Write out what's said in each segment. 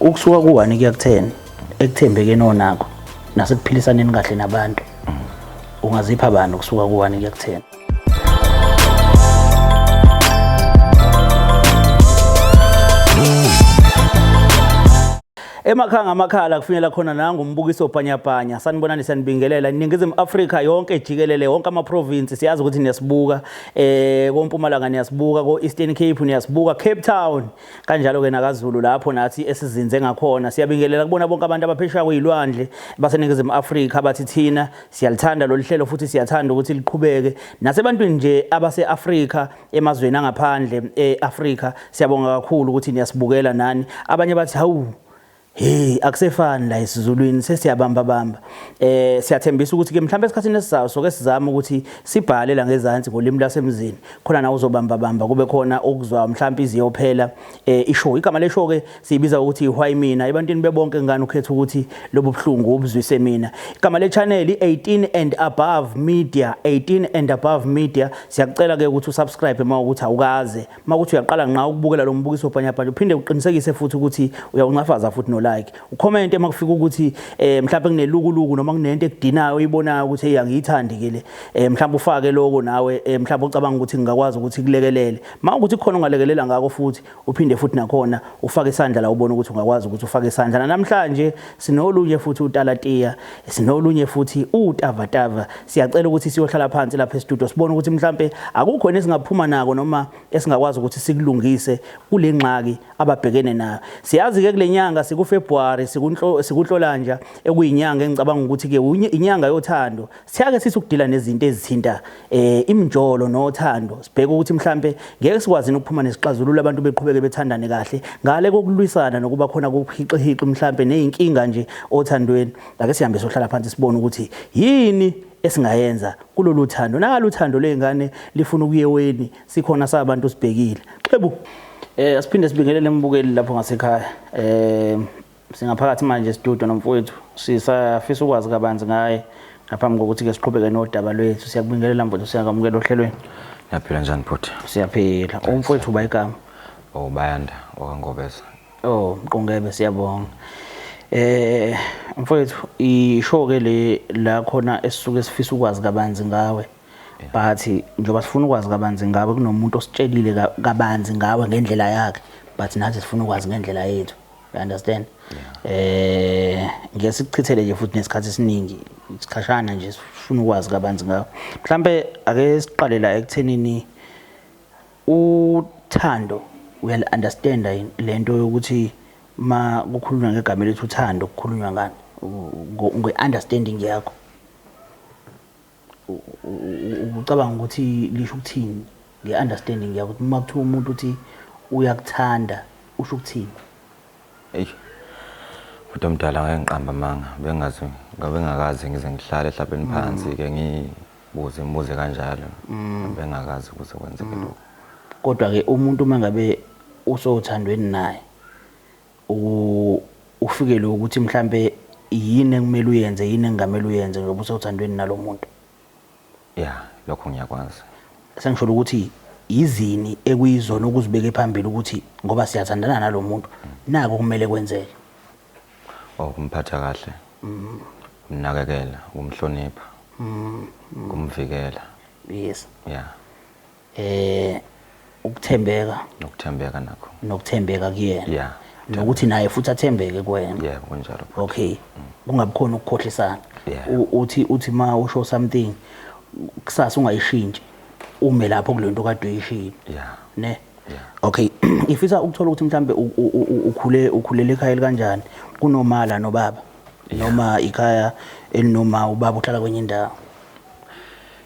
ukusuka ku-one kuya ku-ten ekuthembekeni onakho nasekuphilisaneni kahle nabantu ungazipha bani ukusuka ku-one kuya ku-ten Emakhaya ngamakhala kufinyela khona nangu umbukiso bhanyabhanya sanibonani sanibingelela iningizimu Afrika yonke jikelele wonke ama province siyazi ukuthi niyasibuka eh kompumalanga niyasibuka ko Eastern Cape niyasibuka Cape Town kanjalo ke nakaZulu lapho nathi esizinze ngakhona siyabingelela kubona bonke abantu abaphesheya kuyilwandle baseningizimu Afrika abathi thina siyalithanda lolu hlelo futhi siyathanda ukuthi liqhubeke nasebantwini nje abase Afrika emazweni angaphandle eAfrika siyabonga kakhulu ukuthi niyasibukela nani abanye bathi hawu hey akusefani la isizulwini sesiyabamba bamba eh siyathembisa ukuthi ke mhlawumbe esikhathini esizayo soke sizama ukuthi sibhale la ngezansi ngolimi lasemzini khona na uzobamba bamba kube khona okuzwa mhlawumbe iziyophela eh ishow igama leshow ke Siyibiza ukuthi ihwayi mina ebantwini bebonke ngani ukhetha ukuthi lobu buhlungu ubuzwise mina. Igama le channel 18 and above media 18 and above media siyakucela ke ukuthi usubscribe uma ukuthi awukaze. Uma ukuthi uyaqala nqa ukubukela lo mbukiso bhanya bhanya uphinde uqinisekise futhi ukuthi uyawuncafaza futhi no like. Ucomment uma kufika ukuthi eh mhlawumbe kunelukuluku noma kunento ekudinayo uyibonayo ukuthi hey angiyithandi ke le. Eh mhlawumbe ufake lokho nawe eh mhlawumbe ucabanga ukuthi ngingakwazi ukuthi kulekelele. Uma ukuthi khona ongalekelela ngako futhi uphinde futhi nakhona ufake isandla la ubona ukuthi ungakwazi ukuthi ufake isandla namhlanje sinolunye futhi utalatiya sinolunye futhi utavatava siyacela ukuthi siyohlala phansi lapha estudio sibone ukuthi mhlambe akukho nesingaphuma nako noma esingakwazi ukuthi sikulungise kule ngxaki ababhekene nayo siyazi ke kulenyanga sikufebruary sikunhlo sikunhlolanja ekuyinyanga engicabanga ukuthi ke inyanga yothando Siyake sisi ukudila nezinto ezithinta eh imjolo nothando sibheke ukuthi mhlambe ngeke sikwazini ukuphuma nesixazululo abantu beqhubeke bethandane kahle ngale kokulwisana nokuba khona kokuhixihixi mhlambe nezinkinga nje othandweni ake sihambe sohlala phansi sibone ukuthi yini esingayenza kulolu thando nalo thando lezingane lifuna ukuyeweni sikhona sabantu sibhekile xebu eh asiphinde sibingelele embukeli lapho ngasekhaya eh Singaphakathi manje studio nomfowethu sisafisa ukwazi kabanzi ngaye ngaphambi kokuthi ke siqhubeke nodaba lwethu siyakubingelela mfowethu siyakamukela ohlelweni Ngiyaphila njani bhuti? Siyaphila. Umfowethu uba igama. Oh Bayanda wakangobeza. Oh Mqungebe siyabonga. Eh mfowethu isho ke le la khona esisuke sifisa ukwazi kabanzi ngawe. But njengoba sifuna ukwazi kabanzi ngawe kunomuntu ositshelile kabanzi ngawe ngendlela yakhe but nathi sifuna ukwazi ngendlela yethu. you understand eh ngeke sikuchithele nje futhi nesikhathi esiningi isikhashana nje sifuna ukwazi kabanzi ngawo mhlambe ake siqalela ekuthenini uthando uyal understand lento yokuthi ma kukhulunywa ngegama lethu uthando kukhulunywa ngani ngwe understanding yakho ucabanga ukuthi lisho ukuthini nge-understanding yakho ukuthi uma kuthiwa umuntu uthi uyakuthanda usho ukuthini eyi futhi omdala ngeke ngiqamba amanga bengazi ngabengakazi ngize ngihlale ehlabeni phansi ke ngibuze imibuze kanjalo mm. bengakazi ukuthi kwenzeke mm. lokho kodwa ke umuntu uma ngabe usothandweni naye ufikelwe ukuthi mhlampe yini ekumele uyenze yini engamele uyenze ngoba usewuthandweni nalo muntu ya lokho ngiyakwazi sengisholo ukuthi yizini ekuyizona okuzibeke phambili ukuthi ngoba siyathandana nalo muntu nako kumele kwenzeke okumphatha oh, kahle umnakekela umhlonipha mm, mm. kumvikela yes yeah eh ukuthembeka nokuthembeka nakho nokuthembeka kuyena yeah nokuthi naye futhi athembeke kuwena yeah kunjalo okay kungabikhona ukukhohlisana uthi uthi ma usho something kusasa ungayishintshe ume lapho kulento kade uyishilo yeah ne okay ngifisa ukuthola ukuthi mhlambe ukhule ukhulele ekhaya kanjani kunomala nobaba noma ikhaya elinoma ubaba uhlala kwenye indawo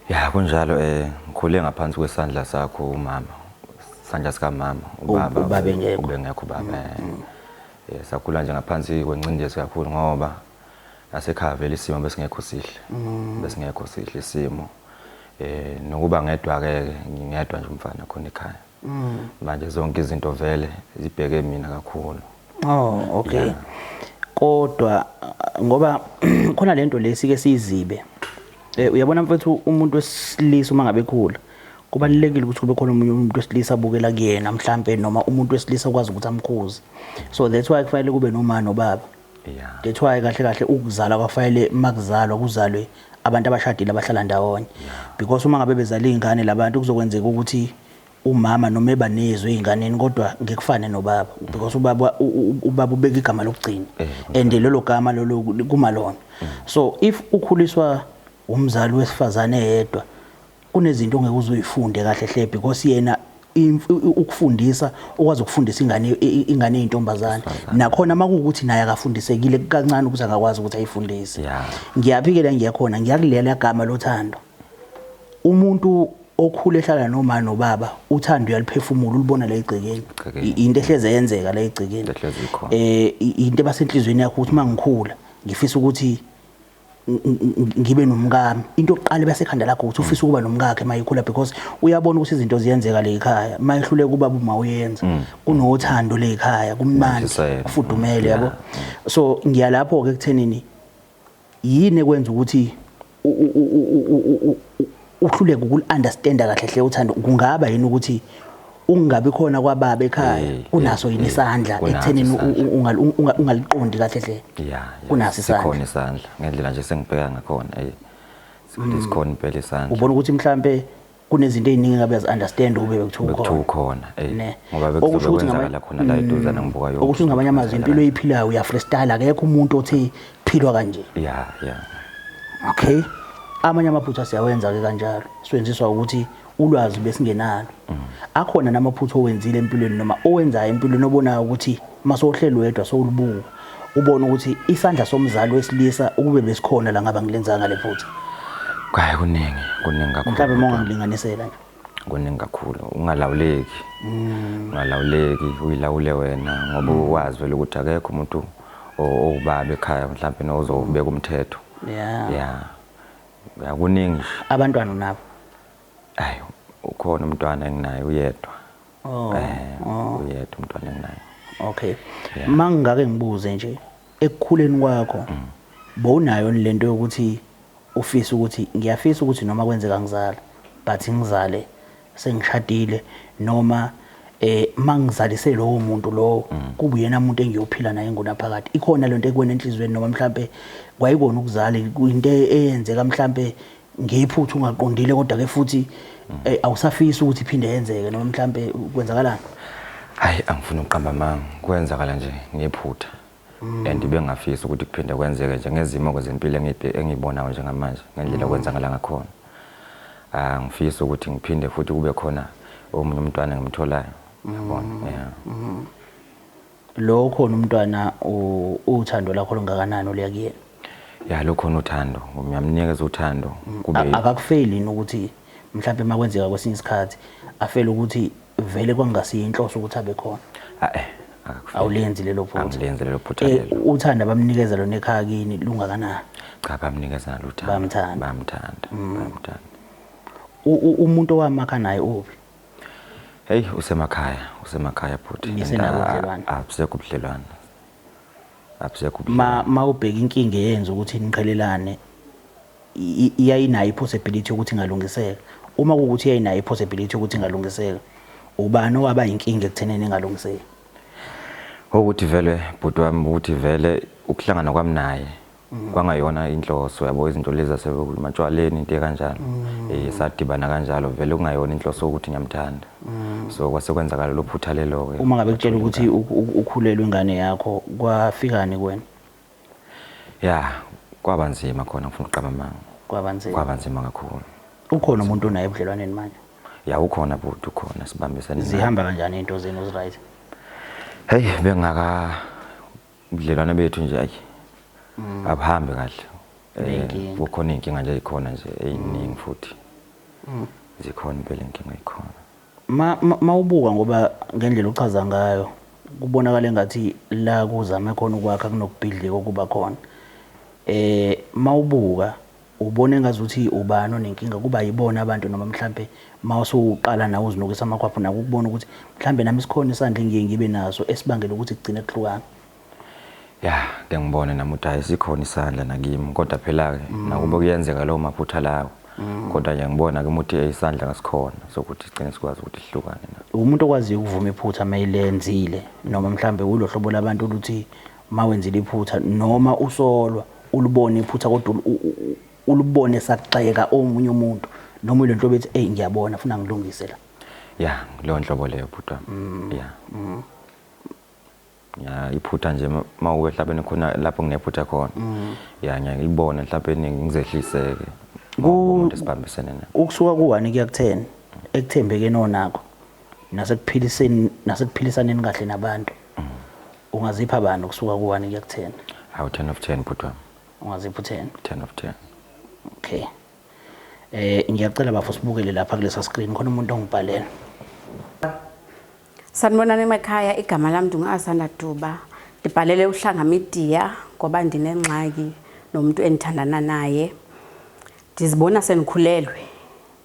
Ya kunjalo eh ngikhule ngaphansi kwesandla sakho umama. Sandla sika mama ubaba. Ubaba engekho. Ubengekho ubaba. Mm, eh. mm. Eh sakhula nje ngaphansi kwencindezi kakhulu ngoba asekhaya vele isimo besingekho sihle. Mm. Besingekho sihle isimo. Eh nokuba ngedwa ke ngingedwa nje umfana khona ekhaya. Mm. Manje zonke izinto vele zibheke mina kakhulu. Oh, okay. Yeah. Kodwa ngoba khona lento lesike sizibe. Eh uyabona mfethu umuntu wesilisa uma ngabe khula kubalulekile ukuthi kube khona omunye umuntu wesilisa abukela kuyena mhlambe noma umuntu wesilisa okwazi ukuthi amkhuze. So that's why kufanele kube nomama nobaba. yeah that's why kahle kahle ukuzalwa kwafanele makuzalwa kuzalwe abantu abashadile abahlala ndawonye because uma ngabe bezala izingane labantu kuzokwenzeka ukuthi umama noma ebanezwe izinganeni kodwa ngekufane nobaba because ubaba ubaba ubeka igama lokugcina eh, and lelo gama lolo kumalona mm. so if ukhuliswa umzali wesifazane yedwa kunezinto ongeke uzoyifunde kahle hle because yena ukufundisa ukwazi ukufundisa ingane ingane ezintombazane nakhona makuwukuthi naye akafundisekile kancane ukuthi akakwazi ukuthi ayifundise ngiyaphikela ngiyakhona ngiyakulela igama lothando umuntu okhule ehlala noma nobaba uthando uyaliphefumula ulibona la egcekeni into ehleze yenzeka la egcekeni eh into ebasenhlizweni yakho ukuthi mangikhula ngifisa ukuthi ngibe nomkami into yokuqala ebasekhanda lakho ukuthi ufisa ukuba nomkakhe mayikhula because uyabona ukuthi izinto ziyenzeka le ekhaya mayehluleka ubaba uma uyenza mm. kunothando le ekhaya kumnandi kufudumele yabo so ngiya lapho ke kuthenini yini ekwenza ukuthi uhluleke ukul-understanda kahle hle uthando kungaba yini ukuthi ukungabi khona kwababa ekhaya Eh, kunaso eh, yini eh, isandla kunaso ekuthenini u- isandla. u- ungal- u- unga- ungaliqondi kahle hle ya ya, Kunaso isandla. sikhona isandla ngendlela nje sengibheka ngakhona eh Mm. sikhona impela isandla ubona ukuthi mhlambe kunezinto eziningi ngabe yazi-understand ukube bekuthiwa bekuthiwa ukhona ukhona eh Ne. ngoba Okusho bekuzobe ukuthi kwenzakala ngama- khona la eduzana ngibuka yonke okusho ukuthi ngamanye amazwi impilo eyiphila uya freestyle akekho umuntu othi philwa kanje yeah yeah okay amanye amaphutha siyawenza ke kanjalo siwenziswa ukuthi ulwazi besingenalo mm. akhona namaphutha owenzile empilweni noma owenzayo empilweni obonayo ukuthi masohlelo wedwa sowulibuka ubona ukuthi isandla somzali wesilisa ukube besikhona la ngaba ngilenzanga lephutha kwaye kuningi kuningi kakhulu mhlawumbe mongangilinganisela nje kuningi kakhulu ungalawuleki mm. ungalawuleki uyilawule wena ngoba mm. ukwazi vele ukuthi akekho umuntu owubaba ekhaya mhlawumbe nozobeka umthetho ya ya kuningi abantwana unabo ayi ukhona umntwana enginaye uyedwa oh, eh oh. uyedwa umntwana enginaye okay mangingake ngibuze nje Ekukhuleni kwakho bowunayo yini lento yokuthi ufise ukuthi ngiyafisa ukuthi noma kwenzeka ngizale but ngizale sengishadile noma eh mangizalise lowo muntu lowo kube uyena umuntu engiyophila naye ngunaphakade ikhona lento ekuwena enhlizweni noma mhlambe kwayikona ukuzala into eyenzeka mhlambe ngephutha ungaqondile kodwa ke futhi eh, awusafisi ukuthi iphinde yenzeke noma mhlambe kwenzakalani hayi angifuni ukuqamba amanga kwenzakala nje ngephutha mm. and bengafisi ukuthi kuphinde kwenzeke nje ngezimo kwezempilo engiyibonayo njengamanje ngendlela mm. kwenzakala ngakhona angifisi ah, ukuthi ngiphinde futhi kube khona omunye umntwana ngimtholayo yabona mm. yeah mm-hmm. Lo ukhona umntwana uthando lakho lungakanani oluya kuyena? Ya lo khona uthando, ngiyamnikeza uthando mm, kube akakufeli yini ukuthi mhlawumbe makwenzeka kwesinye isikhathi afele ukuthi vele kwangasiyo inhloso ukuthi abe khona. Ah, eh awulenzi lelo phutha angilenzi lelo phutha eh, lelo uthanda bamnikeza lona ekhaya kini lungakanani cha bamnikeza nalo uthanda bamthanda bamthanda mm. bamthanda umuntu owamakha naye uphi Hey usemakhaya, usemakhaya bhuti. Nisenabo ubudlelwane? Abusekho ubudlelwane. Abusekho ubudlelwane. Ma mawubheka inkinga eyenza ukuthi niqhelelane iyayinayo ipossibility ukuthi ingalungiseka. Uma kukuthi iyayinayo ipossibility ukuthi ingalungiseka, ubani owaba inkinga ekutheneni ingalungiseki? Ukuthi vele bhuti wami ukuthi vele ukuhlangana kwami naye Mm. kwangayona inhloso yabo izinto lezi asebematshwaleni into ekanjalo mm. eh sadibana kanjalo vele kungayona inhloso ukuthi ngiyamthanda mm. so kwasekwenzakala lo phutha lelo ke uma ngabe kutshela ukuthi ukhulelwe ingane yakho kwafikani kuwena ya kwaba nzima khona ngifuna uqaba manga kwaba nzima kwaba nzima kakhulu ukhona umuntu onaye ebudlelwaneni manje ya ukhona bhuti ukhona sibambisene zihamba kanjani into zenu ziright hey bengaka ubudlelwane bethu nje ayi mm. abuhambi kahle eh, kukhona iy'nkinga nje zikhona nje ey'ningi mm. futhi mm. zikhona impela inkinga ikhona ma ubuka ngoba ngendlela ochaza ngayo kubonakala engathi la kuzame khona ukwakha kunokubhidlika okuba khona eh mawubuka Ubona engazuthi ubani onenkinga kuba yibona abantu noma mhlampe mawusuqala nawe uzinukisa amakhwapho naku ukubona ukuthi mhlambe nami sikhona isandla engiye ngibe naso esibangela ukuthi kugcine kuhlukana. Ya, ke ngibone nami ukuthi hayi sikhona isandla nakimi kodwa phela ke mm. nakube kuyenzeka lawo maphutha lawo. Mm. Kodwa nje ngibona ke ukuthi isandla ngasikhona sokuthi sigcine sikwazi ukuthi sihlukane na. Umuntu okwaziyo ukuvuma iphutha mayilenzile noma mhlambe ulohlobo labantu oluthi Uma wenzile iphutha noma usolwa ulibone iphutha kodwa ulibone sakugxeka omunye umuntu noma ile nhlobo ethi eyi ngiyabona funa ngilungise la ya leyo nhlobo leyo bhuti wami mm. ya mm. ya iphutha nje uma uwe hlabeni khona lapho nginephutha khona mm. ya ngiyake ngilibone hlabeni ngizehliseke umuntu esibambisene naye ukusuka kuwani kuya kutheni ekuthembekeni onakho nasekuphiliseni nasekuphilisana kahle nabantu Ungazipha bani ukusuka ku 1 kuya ku 10? Awu 10 of 10 bhuti wami. Ungazipha u 10? 10 of 10. Okay. Eh ngiyacela bafo sibukele lapha kulesa screen khona umuntu ongibhalela. Sanibonani emakhaya igama lami ndungasanda Duba. Ndibhalele uhlanga media ngoba ndinengxaki nomuntu endithandana naye. Ndizibona sendikhulelwe.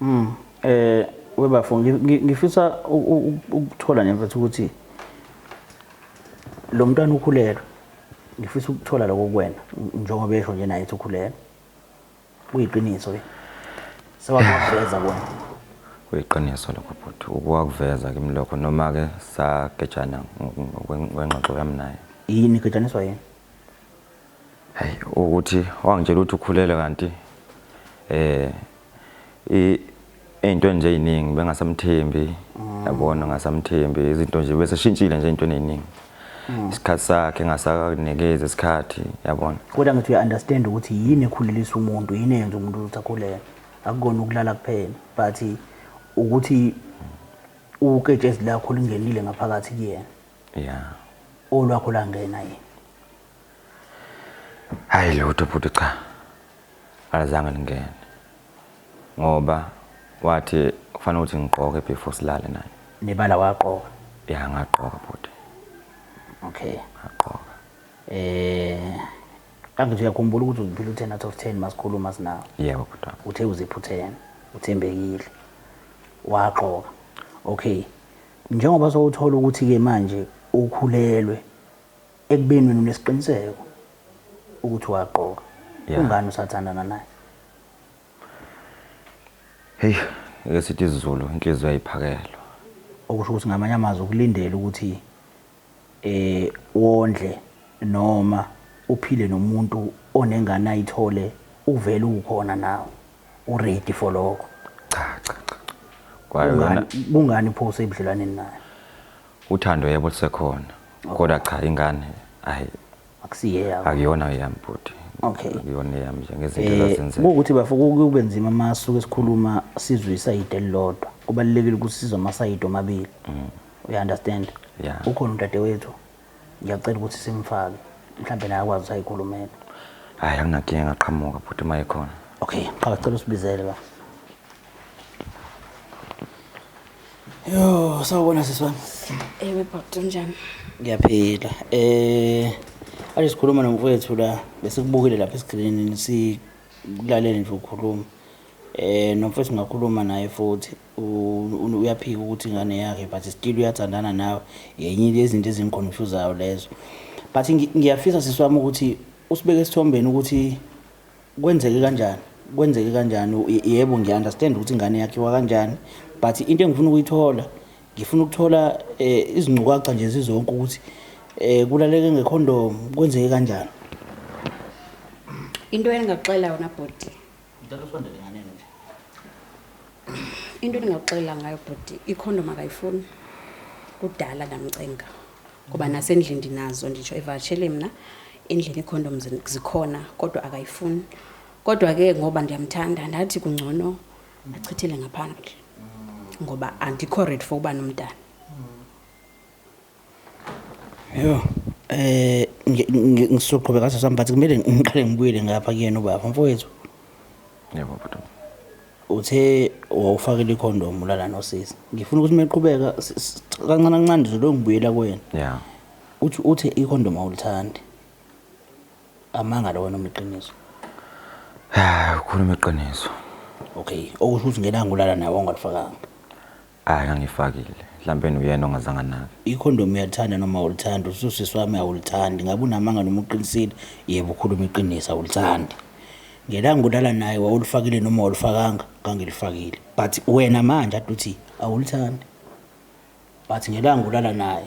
Mm. Eh webafo ngifisa ukuthola nje mfethu ukuthi lo mntwana ukhulelwe. Ngifisa ukuthola lokho kuwena njengoba esho nje naye ukhulelwe. Kuyiqiniso ke. Sewakuveza wena. Kuyiqiniso lokho bhuti. Ukuwakuveza kimi lokho noma ke sagejana ngengxoxo yami naye. Yini gejaniswa yini? Hayi ukuthi wangitshela ukuthi ukhulelwe kanti eh izinto enje eziningi bengasamthembi mm. yabona ngasamthembi izinto nje bese shintshile nje into eziningi mm. isikhathi sakhe ngasakanikeza isikhathi yabona kodwa ngithi uya understand ukuthi yini ekhulelisa umuntu yini eyenza umuntu ukuthi akhulele akukona ukulala kuphela but ukuthi uketshezi lakho lingenile ngaphakathi kuyena yeah olwakho langena yini hayi lutho bhuti cha alizange lingene ngoba wathi kufanele ukuthi ngigqoke before silale naye nebala waqoka ya ngaqoka bhuti okay ngaqoka eh kanti nje uyakhumbula ukuthi uziphila u-10 out of 10 masikhuluma sinawo yebo bhuti uthe uziphuthene uthembekile waqoka okay njengoba sowuthola ukuthi-ke manje ukhulelwe Ekubeni wena unesiqiniseko ukuthi waqoka. Yeah. Kungani usathandana naye? Hey, ngeke sithi isiZulu inhliziyo ayiphakelwa. Okusho ukuthi ngamanye amazwi ukulindela ukuthi eh wondle noma uphile nomuntu onengane ayithole uvele ukhona nawe. U ready for lokho. Cha cha cha. Kwayo Kungani yona kungani pho usebudlelwaneni naye? Uthando yebo lusekhona kodwa cha ingane ayi akusiye yakho akuyona eyami bhuti Okay. akuyona eyami nje ngezinto Eh, ezazenzeka kuwukuthi bafo kube nzima uma suke sikhuluma sizwe isayidi elilodwa kubalulekile ukuthi sizwe amasayidi omabili uya-understand Mm. Yeah. ukhona udadewethu ngiyacela ukuthi simfake mhlawumbe naye akwazi ukuthi ayikhulumele hayi anginakinga ngaqhamuka bhuti uma ekhona okay qhaka cela usibizele ba Yo, sawubona sisi wami. Ewe bhuti unjani? Ngiyaphila. Eh ake sikhuluma nomfowethu la besikubukile lapha esikrinini sikulalele nje ukhuluma. Eh nomfowethu ngakhuluma naye futhi u- u- uyaphika ukuthi ingane yakhe but still uyathandana nawe. Yenye lezinto ezingikhonfuzayo lezo. But ngi- ngiyafisa sisi wami ukuthi usibeke esithombeni ukuthi Kwenzeke kanjani? Kwenzeke kanjani? Yebo ngiya understand ukuthi ingane yakhiwa kanjani but into engifuna ukuyithola ngifuna ukuthola eh, izingcukaca nje zizonke ukuthi eh, kulaleke ngekhondomu kwenzeke kanjani? Into engingaxela yona bhuti. Ngicela usondele nganeni nje. Into engingaxela ngayo bhuti ikhondomu akayifuni. Kudala ndamcenga. ngoba nasendlini ndinazo nditsho evakashele mna endlini iikhondom zikhona kodwa akayifuni kodwa ke ngoba ndiyamthanda ndathi kungcono achithele ngaphambili ngoba andikho red for uba nomntana yho eh ngisoqhubeka ngaso sami but kumele ngiqale ngibuyele ngapha kuyena ubaba mfowethu Yebo bhuti. Uthe wawufakile ikhondomu ulala nosisi. Ngifuna ukuthi meqhubeka s- s- kancane kancane nje lo ngibuyela kuwena. Yeah. Uthi uthe ikhondomu awulithandi. Amanga lo wena uma iqiniso. Hayi ukhuluma iqiniso. Okay, okusho ukuthi ngelanga ulala naye wawungalifakanga. Ay angifakile hlampeni uyena ongazange anake. Ikhondomu uyalithanda noma awulithandi? Uthi usisi wami awulithandi. Ngabe unamanga noma uqinisile? Yebo ukhuluma iqiniso awulithandi. Ngelanga ulala naye wawulifakile noma awulifakanga? Ngangilifakile. But wena manje ade uthi awulithandi. But ngelanga ulala naye.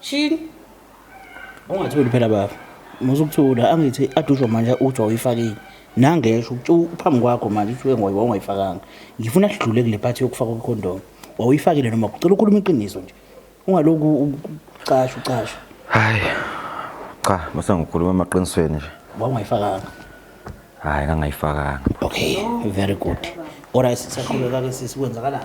Shin. Ungathuli phela baba. Musa ukuthula angithi adusho manje uthi wayifakile. Nangesho ukuthi uphambi kwakho manje uthi wengoyi wawungayifakanga. Ngifuna sidlule kule part yokufaka kwecondom. Wawuyifakile noma kucela ukhuluma iqiniso nje. Ungaloku ucasha ucasha. Hayi. Cha, musa ngikhuluma amaqinisweni nje. Wawungayifakanga. Hayi ngangayifakanga. Okay, very good. Ora sisaqhubeka ke sisi kwenzakalani?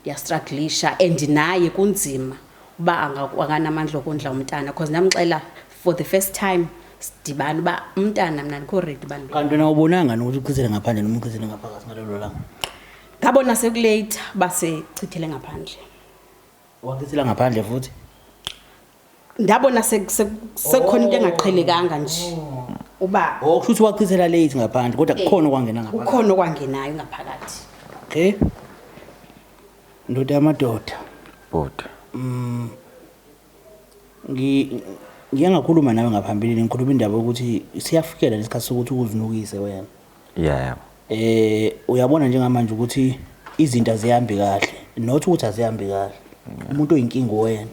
ndiyastraglisha and naye kunzima uba anganamandla okondla umntana because ndamxela for the first time sidibane uba umntana mna ndikho redi bantu kanti wena ubonanga nokuthi uchithele ngaphandle noma uchithele ngaphakathi ngalelo langa ngabona sekulate uba sechithele ngaphandle wachithela ngaphandle futhi ndabona sekukhona into engaqhelekanga nje oh. uba oh, kusho ukuthi wachithela late ngaphandle kodwa eh, kukhona okwangena ngaphandle kukhona okwangenayo ngaphakathi okay ndoda yamadoda bhuti mm ngi ngike ngakhuluma nawe ngaphambilini ngikhuluma indaba yokuthi siyafikela lesikhathi sokuthi ukuzinukise wena yeah eh uyabona njengamanje ukuthi izinto azihambi kahle not ukuthi azihambi kahle umuntu oyinkinga wena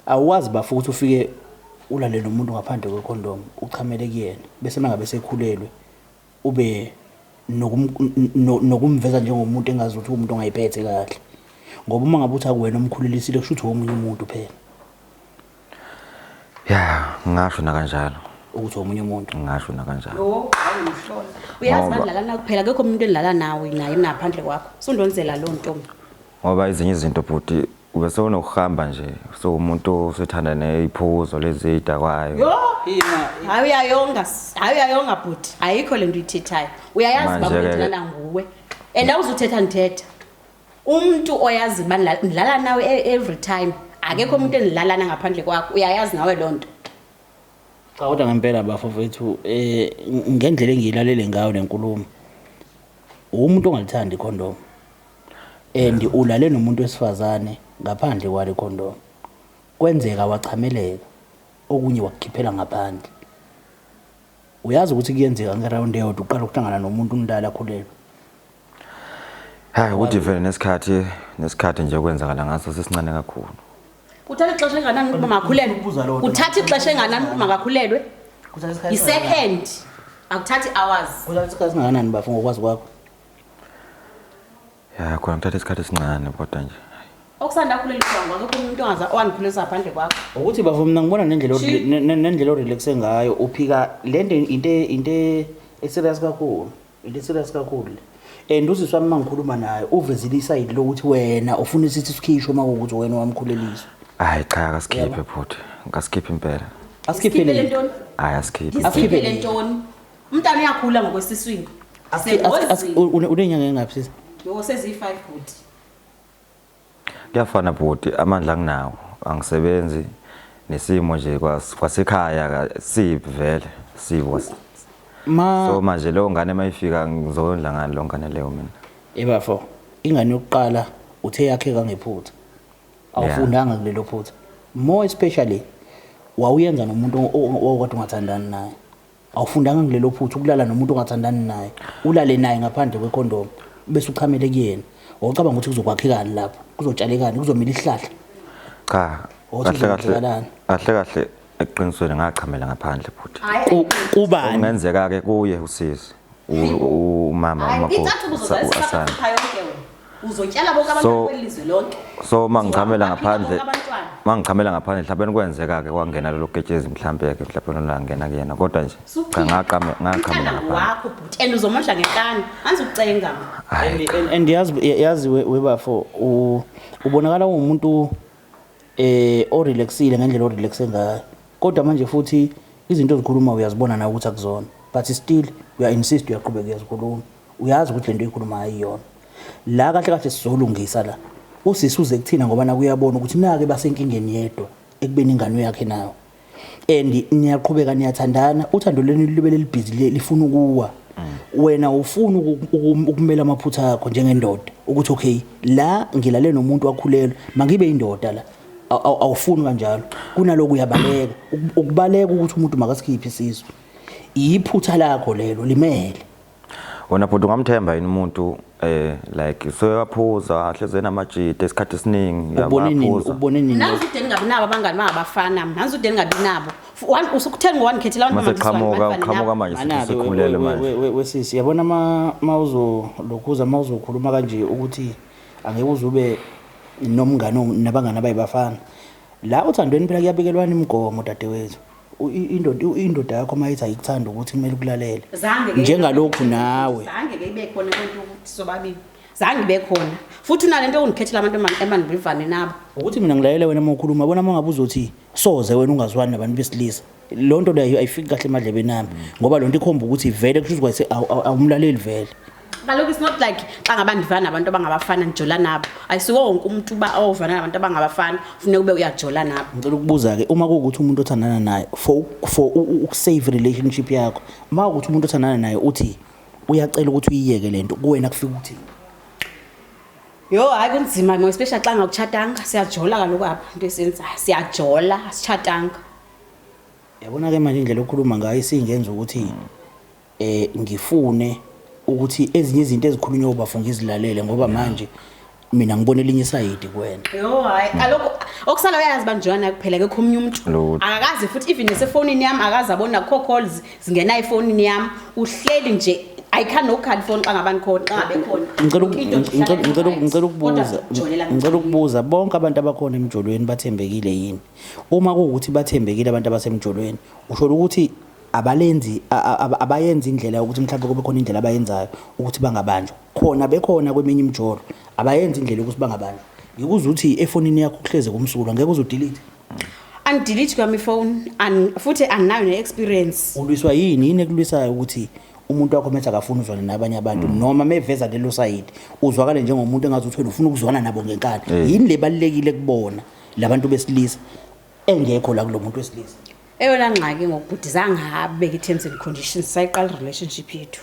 Awukwazi bafo ukuthi ufike ulale nomuntu ngaphandle kwe condom uchamele kuyena bese mangabe sekhulelwe ube nokumveza njengomuntu engazi ukuthi umuntu ongayiphethe kahle ngoba uma ngabe uthi akuwena omkhulelisile kusho ukuthi womunye umuntu phela ya ngasho nakanjalo ukuthi womunye umuntu ngasho nakanjalo uyazi badlala nawe kuphela akekho umuntu edlala nawe naye naphandle kwakho sundonzela loo ntombi ngoba ezinye izinto bhuti Ube sewunokuhamba nje sewumuntu osethanda neyiphuzo lezi eyidakwayo. Yo, yima. Hayi uyayonga, s- hayi uyayonga bhuti. Ayikho lento uyithethayo. Uyayazi Manje baba ke- ngithanda nguwe. And awuzuthetha ngithetha. Umuntu oyazi uba nila- nilala nawe e- every time. Akekho umuntu enilalana ngaphandle kwakho. Uyayazi nawe lonto. Cha kodwa ngempela bafowethu eh ngendlela engiyilalele ngayo lenkulumo umuntu ongalithandi condom and ulale nomuntu wesifazane ngaphandle kwale condom kwenzeka wachameleka okunye wakukhiphela ngaphandle uyazi ukuthi kuyenzeka ngeround eyodwa uqala ukuhlangana nomuntu umdala akhulelwe hayi ukuthi vele nesikhathi nesikhathi nje kwenzakala ngaso sisincane kakhulu kuthatha ixesha enganani ukuba makakhulelwe kuthatha ixesha enganani ukuba makakhulelwe yi-second akuthathi hours kuthatha isikhathi singakanani bafo ngokwazi kwakho Ya khona kuthatha isikhathi esincane kodwa nje. Okusanda kuleli gwango akekho umuntu ongaza owangiphulisa ngaphandle kwakho. Ukuthi bafo mina ngibona nendlela o- Shi. ne- ne- nendlela orelaxe ngayo uphika lento into e- into e- eserious kakhulu into eserious kakhulu le. and usisi wami mangikhuluma naye uvezile isayidi lokuthi wena ufuna isithi sikhishwe uma kuwukuthi wena wamkhuleliswa Hayi cha akasikhipe bhuti. Ngasikhiphe impela. Sikhiphele asikhiphele ntoni? Hayi asikhiphe. Asikhiphe Sikhiphele le. ntoni? Umntana uyakhula ngokwesiswini. Asengozini. Unenyanga engaphi sisi? Yoko seziyi-5 bhuti. Kuyafana bhuti amandla anginawo angisebenzi nesimo nje kwas- kwasekhaya ka- sibi vele sibi was- Ma so manje leyo ngane mayifika ngizondla ngani leyo ngane leyo mina ebafo ingane yokuqala uthe yakhe kangephutha. Awufundanga kulelo phutha. More especially wawuyenza nomuntu o- o- owawukade ungathandani naye. awufundanga kulelo phutha ukulala nomuntu ongathandani naye ulale naye ngaphandle kwekhondomu bese uchamele kuyena wawucabanga ukuthi kuzokwakhekani lapho kuzotshalekani kuzomila isihlahla cha kahle kahle kahle kahle eqinisweni ngachamela ngaphandle futhi kubani kungenzeka ke kuye usisi umama umakoti asanda uzotyala bonke abantu so, kwelizwe lonke so mangichamela ngaphandle mangichamela ngaphandle mhlawumbe kwenzeka ke kwangena lelo ketshezi mhlawumbe ke mhlawumbe lolangena kuyena kodwa nje cha ngaqama ngaqhamela ngaphandle wakho bhuti and uzomondla ngekani anzi ukucenga and yazi yazi webafo ubonakala ungumuntu eh o relaxile ngendlela o relaxe ngayo kodwa manje futhi izinto ozikhuluma uyazibona nawe ukuthi akuzona but still uya insist uyaqhubeka uyazikhuluma uyazi ukuthi lento ikhuluma ayiyona la kahle kahle sizolungisa la usisi uze kuthina ngoba nakuyabona ukuthi nake basenkingeni yedwa ekubeni ingane yakhe nayo and niyaqhubeka niyathandana uthando lwenu libe lelibhizi le- lifuna ukuwa wena ufuna uku- uku- ukumela amaphutha akho njengendoda ukuthi okay la ngilale nomuntu wakhulelwa mangibe indoda la Aw- aw- awufuni kanjalo kunaloku uyabaleka Uk- ukubaleka ukuthi umuntu makasikhiphe isisu yiphutha lakho lelo limele Wena bhuti ungamthemba yini umuntu eh like soyaphuza hleze namajita isikhathi esiningi ubone nini uyabaphuza. ubone nini nanzi ude ningabi nabo abangani bangabafana nanzi ude ningabi nabo F- one- usukuthenga wangikhethela abantu Mase abangiswani, qhamuka abantu qhamuka abanabo. manje Anake, sithi sikhulele we- we- manje. we- we- wesisi yabona ma ma uzolokhuza ma uzokhuluma kanje ukuthi angeke uze ube nomngane o- nabangani abayibafana la othandweni phela kuyabikelwana imigomo dadewethu indoda indoda yakho uma ithi ayikuthanda ukuthi kumele ukulalele njengalokhu nawe zange ke ibe khona lento ukuthi sobabili zange ibe khona futhi unalento yokundikhethela abantu emandibivane nabo ukuthi mina ngilayele wena uma ukhuluma bona uma ngabe uzothi soze wena ungazwani nabantu besilisa loo nto leyo ayifiki kahle emadlebeni ami ngoba loo nto ikhomba ukuthi vele kusho ukuthi awumlaleli vele kaloku it's not like xa ngaba ndivana nabantu abangabafana ndijola nabo ayisiwo wonke umuntu uba ovana nabantu abangabafana funeka ube uyajola nabo ngicela ukubuza ke uma kuwukuthi umuntu othandana naye for for ukusave relationship yakho uma kuwukuthi umuntu othandana naye uthi uyacela ukuthi uyiyeke lento kuwena kufika ukuthi Yo hayi kunzima ngoba especially xa ngawutshatanga siyajola kaloku apha into esenza siyajola asitshatanga yabona ke manje indlela okhuluma ngayo isingenza ukuthi eh ngifune ukuthi ezinye izinto ezikhulunywa ubafo ngizilalele ngoba manje mina ngibona elinye isayidi kuwena Yo hayi alokho okusala uyazi banjwana kuphela ke khomnye umuntu Lutho. akakazi futhi even nesefonini yami akazi abona kho calls zingena efonini yami uhleli nje I can no card phone xa ngabani khona xa ngabe khona ngicela uku- Into nje ngicela- ihlala ngicela uku- right. ngicela ukubuza Kodwa ujolela ngicela mncane. ukubuza bonke abantu abakhona emjolweni bathembekile yini uma kuwukuthi bathembekile abantu abasemjolweni usho ukuthi abalenzi abayenzi indlela yokuthi mhlawumbe kube khona indlela abayenzayo ukuthi bangabanjwa khona bekhona kweminye imjolo abayenzi indlela yokuthi bangabanjwa ngikuze ukuthi efonini yakho kuhleze kumsulwa ngeke uze udelete angidelete kwami ifone futhi anginayo ne-experience ulwiswa yini yini ekulwisayo ukuthi umuntu wakho methi akafuni uzwane nabanye abantu mm. noma meveza lelo sayidi uzwakale njengomuntu engazi ukuthi wena ufuna ukuzwana nabo ngenkani eh. yini le balulekile kubona labantu besilisa engekho la kulo muntu wesilisa Eyona ngxaki ngokubhuti zange abeke i-terms and conditions sayiqala i-relationship yethu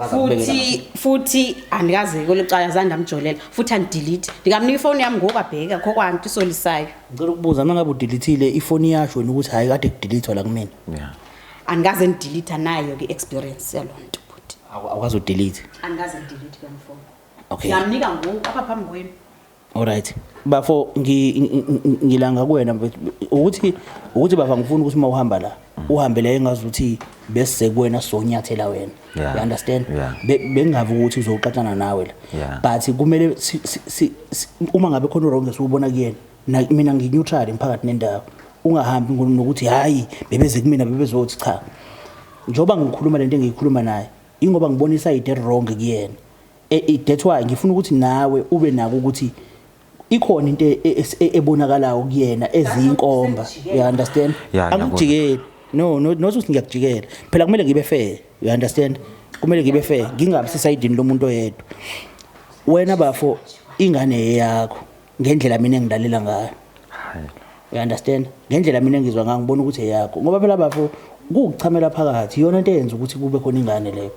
futhi futhi andikaze kwelo cala zange ndamjolela futhi andidelete ndikamnika ifowuni yami ngoku abheka kho kwanto isolisayo ngicela ukubuza uma ngabe udelethile ifoni yasho wena ukuthi hhayi kade kudelethwa la kumina andikaze ndidelete nayo ke experience yaloo nto futhi awukwazi udelete andikaze ndidelete ke mfowuni okay ngamnika ngoku apha phambi kwenu Alright. Bafo ngilanga kuwena ukuthi ukuthi baba ngifuna ukuthi uma uhamba la uhambe la engazi ukuthi bese kuwena sonyathela wena. Yeah. You understand? Yeah. Bengavi ukuthi uzoxaxana nawe la. Yeah. But kumele uma ngabe khona wrong esiwubona kuyena na mina ngi neutral emphakathi nendawo. Ungahambi ngokuthi hayi bebeze kumina bebezothi cha. Njoba ngikhuluma lento engiyikhuluma naye ingoba ngibona isayide wrong kuyena. Eh, eh, that's why ngifuna ukuthi nawe ube nako ukuthi ikhona into e- e- e- ebonakalayo kuyena eziyinkomba you understand Ya, ngiyabona. angijikeli no no not ukuthi ngiyakujikela phela kumele ngibe fair you understand kumele ngibe fair ngingabi sesayidini lomuntu oyedwa wena bafo ingane eyakho ngendlela mina engilalela ngayo Hayi. you understand ngendlela mina engizwa ngayo ngibona ukuthi eyakho ngoba phela bafo kukuchamela phakathi iyona into eyenza ukuthi kube khona ingane leyo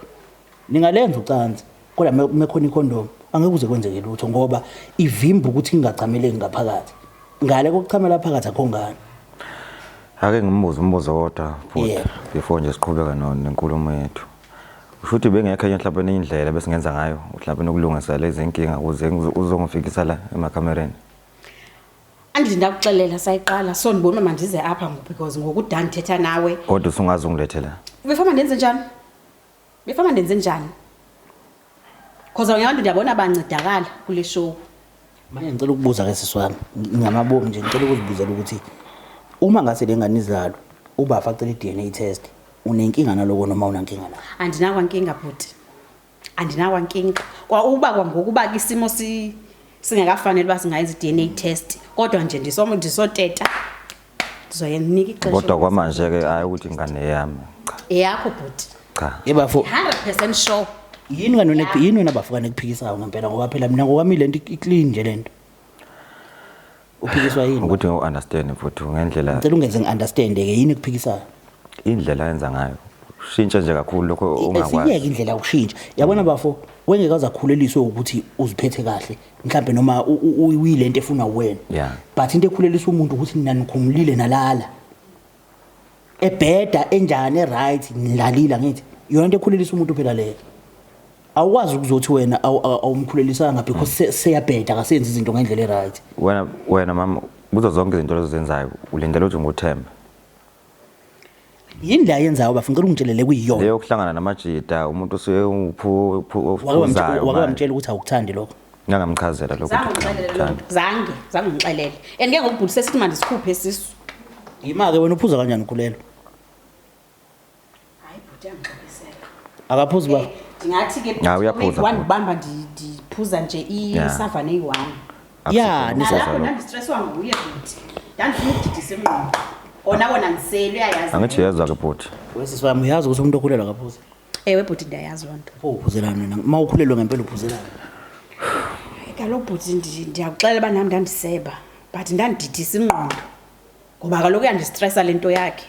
Ningalenza ucansi kodwa mekhona ikhondomu angeke kuze kwenzeke lutho ngoba ivimba ukuthi ingachameleki ngaphakathi. Ngale kokuchamela phakathi akho ngane. Ake ngimbuze umbuzo wodwa futhi yeah. before nje siqhubeka nenkulumo yethu. Usho ukuthi bengekho enye mhlawumbe enye indlela besingenza ngayo mhlawumbe nokulungisa lezi inkinga ukuze uzongifikisa la emakamereni. Andile ndakuxelela sayiqala so ndibona manje ize apha ngoba because ngokudani thetha nawe. Kodwa usungazi ungilethela. Before ndenze njani? Befana ndenze njani? Khoza ngiyabantu ndiyabona bancedakala kule show. Manje ngicela ukubuza ke sisi wami ngamabomu nje ngicela ukuzibuzela ukuthi uma ngase le ngane izalwe ubafa acela i-DNA test unenkinga naloko noma unankinga na? Andinakwa nkinga bhuti. Andinakwa nkinga. Kwa uba kwangokuba ke isimo si singakafanele uba singayenza i-DNA test kodwa nje ndisomo ndisoteta Zoya nginika ixesha. Kodwa kwamanje ke hayi ukuthi ingane yami. Cha. Eyakho bhuti. Cha. Yebafo. 100% sure. Yini kanona yini wena bafukane kuphikisayo ngempela ngoba phela mina ngokwami lento iclean nje lento. Uphikiswa yini? Ukuthi ngu understand mfuthu ngendlela. Ngicela ungenze ngi understand ke yini kuphikisayo? Indlela yenza ngayo. Shintsha nje kakhulu lokho ungakwazi. Siyeke indlela yokushintsha. Yabona bafo wengeke uzakhululiswe ukuthi uziphethe kahle. mhlambe noma uyilento efuna wena yeah. but into ekhulelisa umuntu ukuthi nina nikhumulile nalala ebheda enjani eright nilalile ngithi yona into ekhulelisa umuntu phela leyo awukwazi ukuzothi wena awumkhulelisanga because mm. seyabheda akasenzi izinto ngendlela eright wena wena mama kuzo zonke izinto lezo zenzayo ulindele ukuthi ngothemba yini le ayenzayo bafuna ngicela ungitshelele kuyiyona leyo kuhlangana namajita umuntu usuke uphuzayo wake wamtshela ukuthi awukuthandi lokho ngangamchazela lokho zange zange ngixelele and ke ngokubhulu sesithi manje sikhuphe isisu yima-ke wena uphuza kanjani ukhulelo Hayi bhuti angixoliseka. Akaphuzi ba. Ndingathi ke Ah, uyaphuza. one ubamba ndi- ndiphuza nje Yeah. isavane eyi-one. Yeah, nisa- Nalapho ndandistreswa nguye bhuti. Ndandifuna ukudidisa ingqondo. Kona kona ndisele uyayazi. Angithi uyezwa ke bhuti. Wesisi wami uyazi ukuthi umuntu okhulelwa akaphuzi. Ewe bhuti ndiyayazi loo nto. Pho uphuzelani wena? Uma ukhulelwe ngempela uphuzelani? Hayi, Kaloku bhuti ndi- ndiyakuxelela uba nam ndandiseba but ndandididisa ingqondo ngoba kaloku uyandistresa le nto yakhe.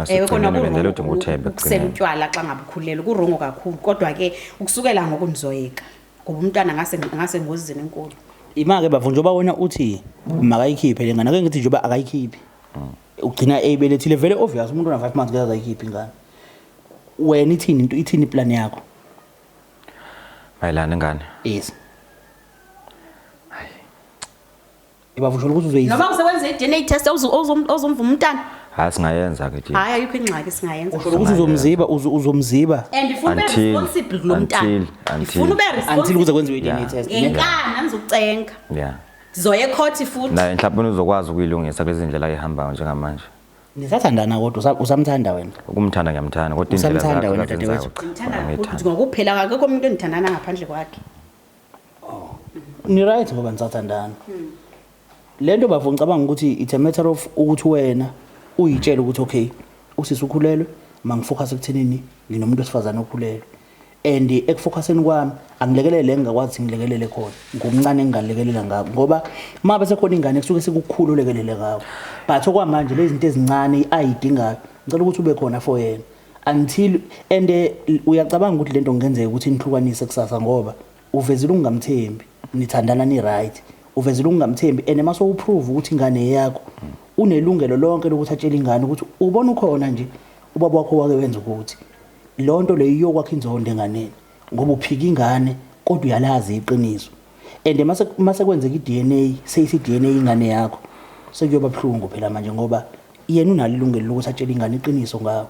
Eh, khona ukusela utywala xa ngabe ukhulelwe kurongo kakhulu kodwa ke ukusukela ngoku ndizoyeka ngoba umntwana ngasengozini enkulu ima-ke bafo njengoba wena uthi makayikhiphe le ngane ake ngithi njengoba akayikhiphi mm. ugcina eyibelethile vele obvious umuntu ona-five months ngeke akayikhiphi ingane wena ithini into ithini iplan yakho mayelana ingane yes Ngibavusha ukuthi uzoyizwa. Noma usewenza i-DNA test awuzu- awuzom- awuzomvuma umntana. hayi singayenza ke nje Hayi ayikho ingxaki singayenza. Usho ukuthi uzomziba uzo- uzomziba And ifuna ube Until- responsible kulo mntana. until- until- Ifuna ube until kuze responsible. kwenziwe i-DNA Yeah. test. Ngenkani angizokucenga. yeah Sizoya ecourt futhi. naye mhlawumbe uzokwazi ukuyilungisa kulezi ndlela ayihambayo njengamanje Nisathandana kodwa usa- usamthanda wena. ukumthanda ngiyamthanda kodwa indlela Usamthanda zakhe wena azenzayo, dadewethu? Ngithanda kakhulu ukuthi ngokuphela akekho umuntu engithandana ngaphandle kwakhe. Oh. Ni right ngoba nisathandana. Hmm. Lento bafo ngicabanga ukuthi it's a matter of ukuthi wena uyitshela ukuthi okay usisi ukhulelwe mangifocus ekuthenini nginomuntu osifazana okhulelwe and ekufocuseni kwami angilekelele engingakwazi ngilekelele khona ngomncane engingalekelela ngabo ngoba uma bese khona ingane kusuke sekukhulu lekelele ngawo but okwamanje lezi zinto ezincane i-ID ngayo ngicela ukuthi ube khona for yena until and eh, uyacabanga ukuthi lento kungenzeka ukuthi nihlukanise kusasa ngoba uvezile ukungamthembi nithandana ni right uvezile ukungamthembi and mase uprove ukuthi ingane yakho unelungelo lonke lokuthi atshele ingane ukuthi ubona ukhona nje ubaba wakho wake wenza ukuthi lonto leyo iyokwakha inzondo enganeni ngoba uphika ingane kodwa uyalazi iqiniso and mase mase kwenzeka iDNA seyisi DNA ingane yakho sekuyoba buhlungu phela manje ngoba yena unalo ilungelo lokuthi atshele ingane iqiniso ngawo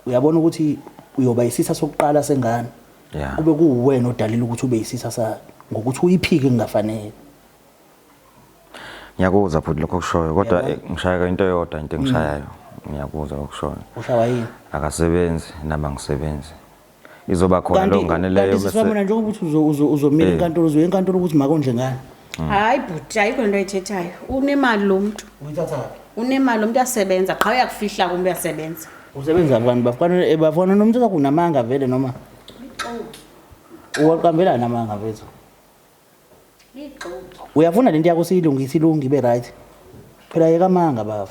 uyabona ukuthi uyoba isisa sokuqala sengane kube kuwena odalela ukuthi ube isisa sayo ngokuthi uyiphike kungafanele Ngiyakuzwa futhi lokho kushoyo kodwa eh, ngishaya into eyodwa into engishayayo. Mm. Ngiyakuzwa lokho kushoyo. Ushawa yini? Akasebenzi nami angisebenzi. Izoba khona lo ngane leyo bese. Kanti mina njengoba uthi uzomela eh. inkantolo uzoya enkantolo ukuthi makondle ngane. Mm. Hayi bhuti ayikho into ayithethayo. Unemali lo muntu. Uyithatha kabi. Unemali lo muntu uyasebenza qha uyakufihla kumbe uyasebenza. Usebenza abantu bafana eh, bafana nomuntu okunamanga vele noma. Uxoki. Uwaqambelana amanga bethu. uyafuna lento yakho siyilungise ilunge ibe right phela yeka amanga baba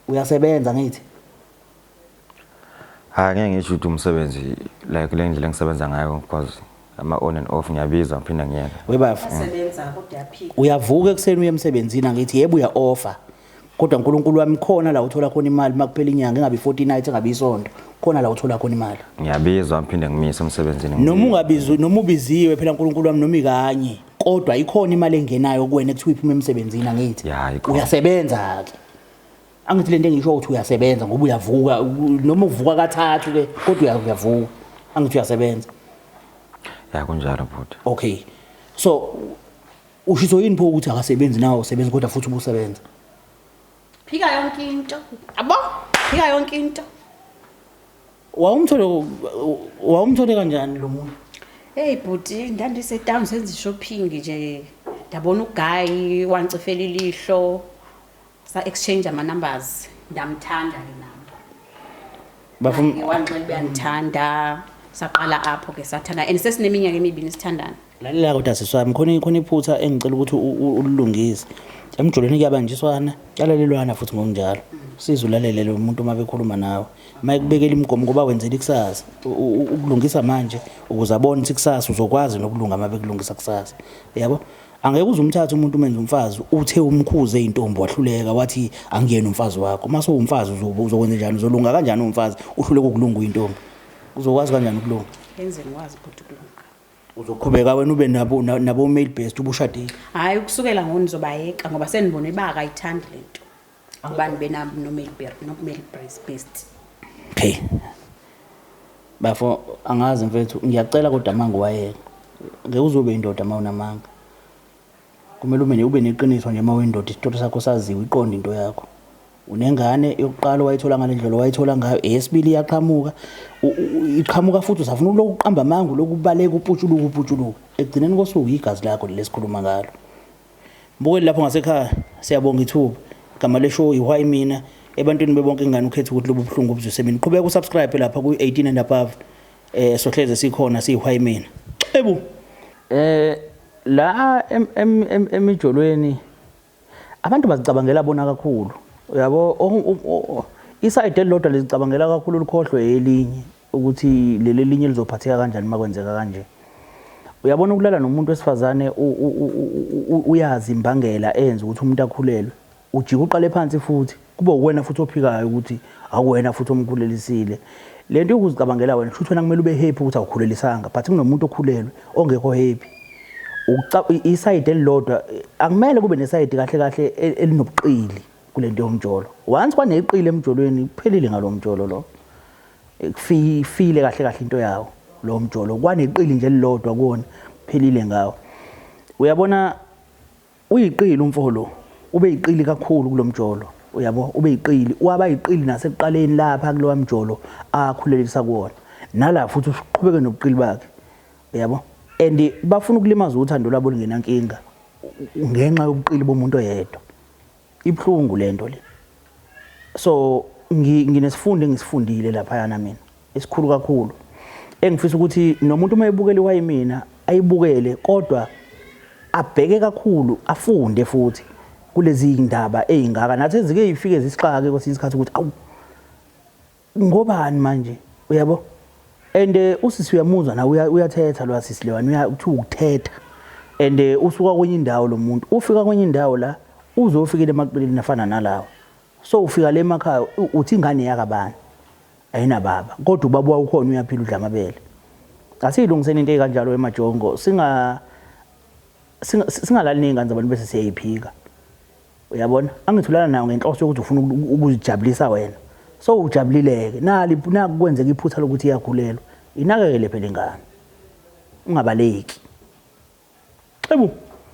uyasebenza ngithi hayi ngeke ngisho ukuthi umsebenzi like kule ndlela engisebenza ngayo because ama on and off ngiyabiza ngiphinda ngiyeke webafo uyavuka ekuseni uye emsebenzini angithi yebo uya offer kodwa nkulunkulu wami khona la uthola khona imali uma kuphela inyanga engabi 40 night engabi isonto khona la uthola khona imali ngiyabizwa ngiphinde ngimise emsebenzini noma ungabizwa noma ubiziwe phela nkulunkulu wami noma ikanye kodwa ikhona imali engenayo kuwena ekuthiwa iphuma emsebenzini angithi uyasebenza ke angithi lento engisho ukuthi uyasebenza ngoba uyavuka noma uvuka kathathu ke kodwa uyavuka angithi uyasebenza ya kunjalo bhuti okay so Ushiso yini pho ukuthi akasebenzi nawo sebenzi kodwa futhi ubusebenza. Phika yonke into. Abo, phika yonke into. Wawumthole wawumthole kanjani lo muntu? Hey bhuti, ndandise town senza shopping nje. Ndabona uguy wangcifela ilihlo. Sa exchange ama numbers ndamthanda ke nami. Bafuna ngiwanxele beyangithanda saqala apho ke sathanda and sesineminyaka emibini sithandana. Lalela kodwa siswami khona khona iphutha engicela ukuthi ulilungise. Emjolweni kuyabanjiswana, kuyalalelwana futhi ngokunjalo. Siza ulalele lo muntu uma bekhuluma nawe. Uma ekubekela imigomo ngoba wenzela ikusasa, ukulungisa manje ukuze abone ukuthi ikusasa uzokwazi nokulunga uma bekulungisa kusasa. Yabo? Angeke uze umthathe umuntu umenze umfazi uthe umkhuze intombi wahluleka wathi angiyena umfazi wakho. Mase uwumfazi uzokwenza njani uzolunga kanjani umfazi uhluleka ukulunga uyintombi. Uzokwazi kanjani ukulunga? Yenzeni wazi ukuthi ukulunga. Uzoqhubeka wena ube nabo nabo male based ubushadile. Hayi ukusukela ngoni zobayeka ngoba senibone baka ayithandi lento. ubani benabo nokumele best okay bafo angazi mfethu ngiyacela kodwa manga wayeka ngeke uzobe indoda uma unamanga kumele ube ube neqiniso nje uma uyindoda isitotho sakho saziwe iqonda into yakho unengane yokuqala wayithola ngale ndlela wayithola ngayo eyesibili iyaqhamuka iqhamuka futhi usafuna uloku qamba amanga lokubaleka uputshuluka uputshuluka ekugcineni kosuku yigazi lakho lesikhuluma ngalo Mbukeli lapho ngasekhaya siyabonga ithuba. Igama le show iwhy mina ebantwini bebonke ingane ukhetha ukuthi lobu buhlungu obuzwise mina. Qhubeka usubscribe lapha ku 18 and above. Eh sohleze sikhona siyiwhy mina. Ebu. Eh la emijolweni abantu bazicabangela bona kakhulu. Uyabo isayide elilodwa lizicabangela kakhulu likhohlwe elinye. ukuthi leli elinye lizophatheka kanjani uma kwenzeka kanje uyabona ukulala nomuntu wesifazane uyazi imbangela eyenza ukuthi umuntu akhulelwe ujike uqale phansi futhi kube uwena futhi ophikayo ukuthi akuwena futhi omkhulelisile le nto yokuzicabangela wena kusho ukuthi wena kumele ube happy ukuthi awukhulelisanga but kunomuntu okhulelwe ongekho happy isayidi elilodwa akumele kube nesayidi kahle kahle e, elinobuqili kule nto yomjolo once kwaneqile emjolweni kuphelile ngalo mjolo lo Kufile kahle kahle into yawo lo mjolo kwaneqili nje elilodwa kuwona phelile ngawo. Uyabona uyiqili umfo lo ube yiqili kakhulu kulomjolo uyabo ube yiqili waba yiqili nasekuqaleni lapha kulowa mjolo akhulelisa kuwona nala futhi uqhubeke nobuqili bakhe uyabo and bafuna ukulimaza uthando lwabo lingenankinga ngenxa yobuqili bomuntu oyedwa Ibuhlungu lento le. So nginesifundo engisifundile lapha yana mina esikhulu kakhulu engifisa ukuthi nomuntu uma ebukela iwayimina ayibukele kodwa abheke kakhulu afunde futhi kulezi ndaba ezingaka nathi ezike ifike zisixake kwesinye isikhathi ukuthi awu Ngobani manje uyabo and eh, usisi uyamuzwa na uyathetha lo asisi lewani uyakuthiwa ukuthetha and eh, usuka kwenye indawo lo muntu ufika kwenye indawo la uze ufikile emaqilini afana nalawo so ufika le emakhaya uthi ingane yakabani ayinababa kodwa ubaba wawukhona uyaphila udla amabele asiyilungiseni into ekanjalo emajongo singa singalali nezingane zabantu bese siyayiphika uyabona angithulana nayo ngenhloso yokuthi ufuna ukuzijabulisa wena so ujabulileke nali nakwenzeka iphutha lokuthi iyagulelwa inakekele phela ingane ungabaleki xebu